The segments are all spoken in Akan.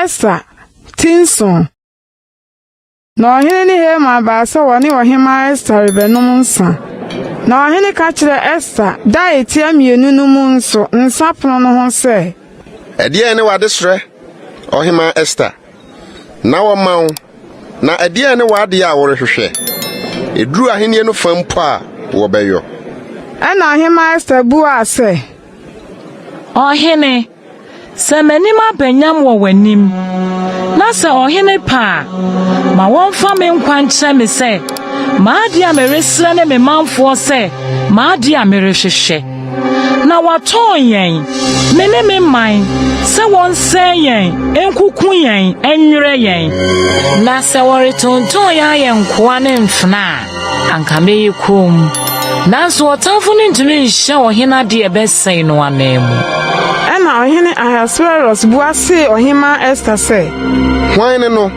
Ɛsa ti nson na ɔhene ne Haman baa sɛ wɔne ɔhemmaa Esta rebɛnom nsa. Na ɔhene ka kyerɛ Esta da a etia mmienu no mu nso nsa pono no ho sɛ. Ɛdeɛn ne w'adesrɛ, ɔhemmaa Esta? na wɔma wo, na ɛdeɛn ne w'adeɛ a worehwehwɛ? Ɛduru ahennie no fa mpo a, wɔbɛyɔ. Ɛnna Ɔhemmaa Ester buaa sɛ. Ɔhene, sɛ m'anim aba nyam wɔ w'anim, na sɛ ɔhene pɛ a, ma wɔmfa me nkwa nkyerɛ me sɛ m'adeɛ a meresrɛ ne me manfoɔ sɛ m'adeɛ a merehwehwɛ. Na wɔatɔn yɛn, me ne me man, sɛ wɔnsɛe yɛn, nkuku yɛn, nwerɛ yɛn. Na sɛ wɔretontɔn yɛn ayɛ nkoa ne mfena a, anka mɛyɛ komm. Nanso ɔtamfo no ntumi nhyɛ ɔhene ade a ɛbɛsɛe no ananmu. Ɛnna Ɔhene Ahasweros bua see Ɔhemmaa Ester sɛ. Hwan ne no,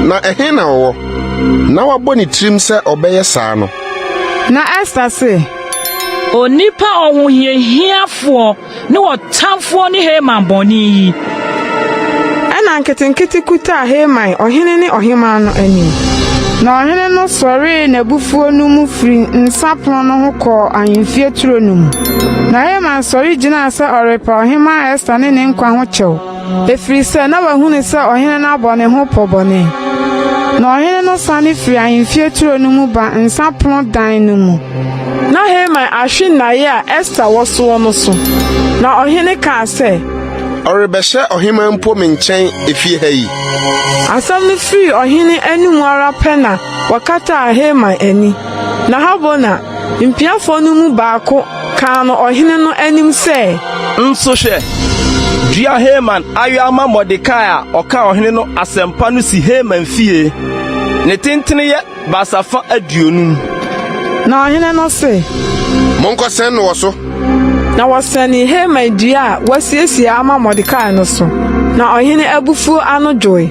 na ɛhe na ɔwɔ? Na wabɔ ne tirim sɛ ɔbɛyɛ saa no. Na Ester se. Onipa ɔhohiahiafoɔ ne ɔtamfoɔ ne Haman bɔne yi. Ɛnna nketenkete kutaa Haman ɔhene ne ɔhemmaa no anim. Na ɔhene no sɔree n'abufuo no mu firi nsã pono no ho kɔɔ ahemfie turo no mu. Na Haman sɔre gyinaa sɛ ɔrepa Ɔhemmaa Ester ne ne nkwa ho kyɛw. Ɛfiri sɛ na wahunu sɛ ɔhene no abɔ ne ho pɔ bɔne. Na ɔhene no sane firi ahemfie turo no mu ba nsã pono dan no mu. Na Haman ahwe nnaeɛ a Ester wɔ soɔ no so, na ɔhene kaa sɛ. Ɔrebɛhyɛ ɔheman mpo me nkyɛn efie ha yi. Asɛm no firii ɔhene anom ara pɛ na wɔkataa Haman ani. Na Habona, mpiafoɔ no mu baako Kaa no ɔhene no anim sɛ. Nso hwɛ, dua Haman ayowa ma Mordekai a ɔka ɔhene no asɛmpa no si Haman fie. Ne tentene yɛ baasafã aduonum. Na ɔhene no se. Monkɔsɛn no wɔ so. Na wɔsɛnee Haman dua a wɔasiesie ama Mordekai no so, na ɔhene abufuo ano dwoe.